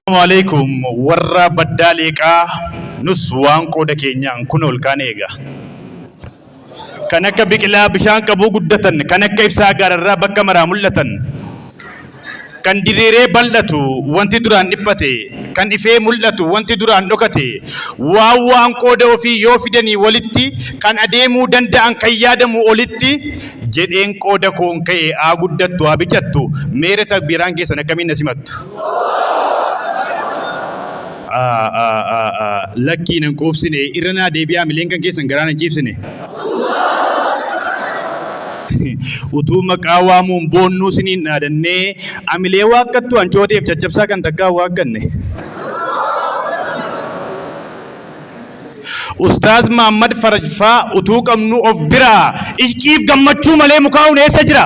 Assalamualaikum warra baddaa leeqaa nus waan qooda keenyaan kun ol kaan eega. Kan akka biqilaa bishaan qabuu guddatan, kan akka ibsaa gaararraa bakka maraa mul'atan, Kan diriiree bal'atu wanti duraan dhiphate, kan ifee mul'atu wanti duraan dhokate, waan waan qooda ofii yoo fidanii walitti, kan adeemuu danda'an kan yaadamuu olitti, jedheen qooda koon ka'e haa guddattu haa bicattu, meere takbiiraan keessan akkamiin na simattu? Lakkii nan quubsine irra naa deebi'aa mileen kan keessan garaa nan ciibsine. Utuu maqaa waamuun boonnuu siniin dhaadannee amilee waakkattu hancooteef caccabsaa kan takkaa waakkatne. Ustaaz Mahammad Faraj faa utuu qabnuu of biraa ishqiif gammachuu malee mukaa'uun eessa jira?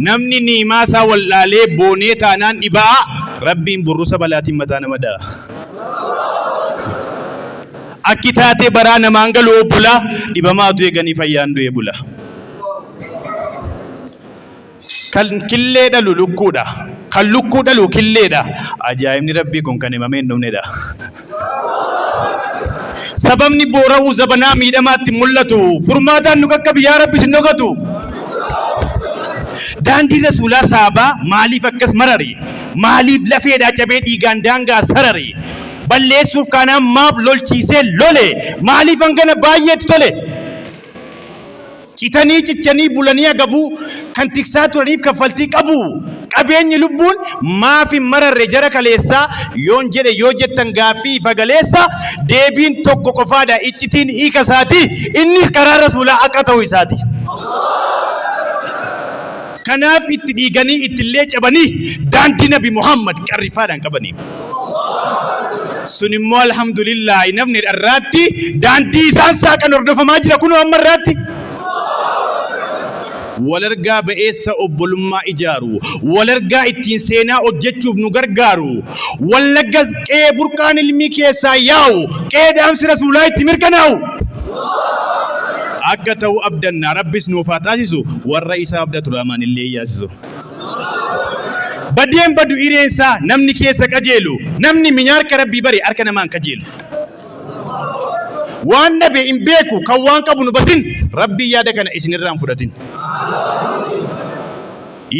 Namni ni'imaa isaa wal'aalee boonee taanaan dhiba'a, Rabbiin burrusa balaatiin mataa nama dha'a. Akki taatee baraa namaan galu obbolaa, dhibamaa utuu eeganii fayyaan du'ee bula. Kan killee dhalu lukkuudha. Kan lukkuu dhalu killeedha. Ajaa'ibni Rabbii kun kan himamee hin dhumnedha. Sababni boora'uu zabanaa miidhamaatti mul'atu furmaataan nu qaqqabi yaa Rabbi sin dhokatu. Daandii Rasuulaa saabaa maaliif akkas marari? Maaliif lafeedhaa cabee dhiigaan daangaa sarari? Balleessuuf kaanaan maaf lolchiisee lole? Maaliif hangana baay'eetu tole? Citanii cichanii bulanii agabuu kan tiksaa turaniif kaffaltii qabuu? Qabeenyi lubbuun maaf hin mararre jara kaleessaa yoon jedhe yoo jettan gaaffii ifa galeessa deebiin tokko qofaadha iccitiin hiika isaati innis karaa rasuulaa akka ta'uu isaati. Kanaaf itti dhiiganii ittillee cabanii daandii nabi Muhammad qarrifaadhaan qabaniif. Sun immoo alhamdulillaahi namni dharraatti daandii isaan saaqan hordofamaa jira kunoo amma irraatti. Walargaa ba'eessa obbolummaa ijaaru, walargaa ittiin seenaa hojjechuuf nu gargaaru. Wallaggas qe'ee burqaan ilmii keessaa yaa'u, qe'ee dhaamsi Rasuulaa itti mirkanaa'u. Akka ta'u abdanna, Rabbis nuuf haa taasisu, warra isa abdatu Rahmaan illee hin yaasisu. Badee hin badu hireen isaa namni keessa qajeelu, namni minya harka Rabbii bare harka namaa hin kajeelu. Waan dhabe hin beeku kan waan qabu hin hubatin, Rabbiin yaada kana isin irraa hin fudhatin.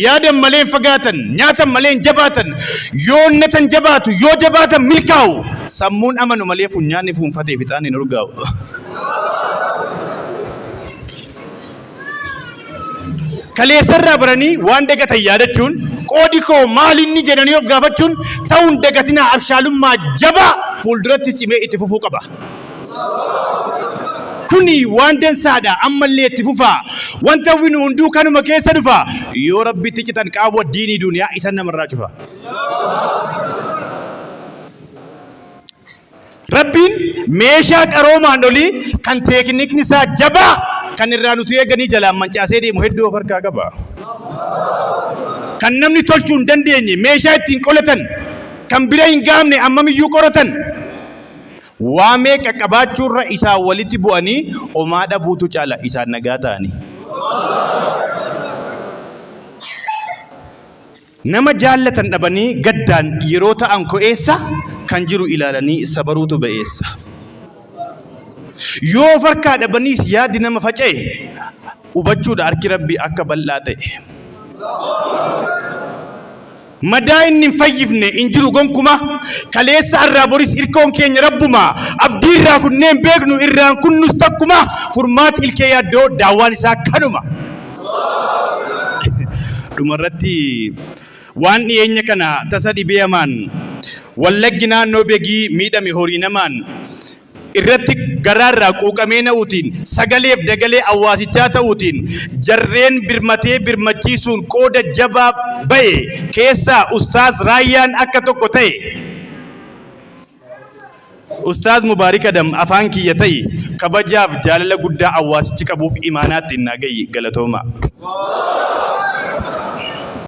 Yaadan malee hin fagaatan, nyaatan malee hin jabaatan, yoo onnatan jabaatu, yoo jabaatan milkaa'u, sammuun amanu malee funyaanni fuunfatee fixaan hin urgaa'u. Kaleessarraa baranii waan dagatan yaadachuun qoodi koo maalinni jedhanii of gaafachuun ta'uun dagatinaa abshaalummaa jabaa fuulduratti cimee itti fufuu qaba. Kuni waan dansaadha ammallee itti fufaa. Wanta hawwinu hunduu kanuma keessa dhufa. Yoo Rabbitti citan qaawwa diinii duuniyaa isan namarraa cufa. Rabbiin meeshaa qaroomaan olii kan teeknikni isaa jabaa kan irraa nuti eeganii jalaan mancaasee deemu hedduu of harkaa qaba. Kan namni tolchuu hin dandeenye meeshaa ittiin qolatan kan bira hin gaamne ammamiyyuu qoratan Waa meeqa qabaachuurra isaan walitti bu'anii omaa dhabuutu caala isaan nagaa ta'anii. Nama jaallatan dhabanii gaddaan yeroo ta'an ko'eessa kan jiru ilaalanii sabaruutu ba'eessa. Yoo of harkaa dhabaniis yaadi nama faca'e hubachuudha harki Rabbii akka bal'aa ta'e. Madaa inni hin fayyifne hin jiru gonkuma Kaleessa arraa boris irkoon keenya rabbuma Abdii irraa kunnee hin beeknu irraan kunnus takkuma Furmaati ilkee yaaddoo daawwaan isaa kanuma Dhuma irratti waan dhiyeenya kana tasa dhibee hamaan Wallaggi naannoo Begii miidhame horii namaan irratti garaarraa quuqamee na'uutiin sagaleef dagalee awwaasichaa ta'uutiin jarreen birmatee birmachiisuun qooda jabaa ba'e keessaa Ustaaz Raayyaan akka tokko ta'e. Ustaaz Mubaarik Adam afaan kiyya ta'i kabajaaf jaalala guddaa awwaasichi qabuuf imaanaa ittiin naa ga'i. Galatoomaa.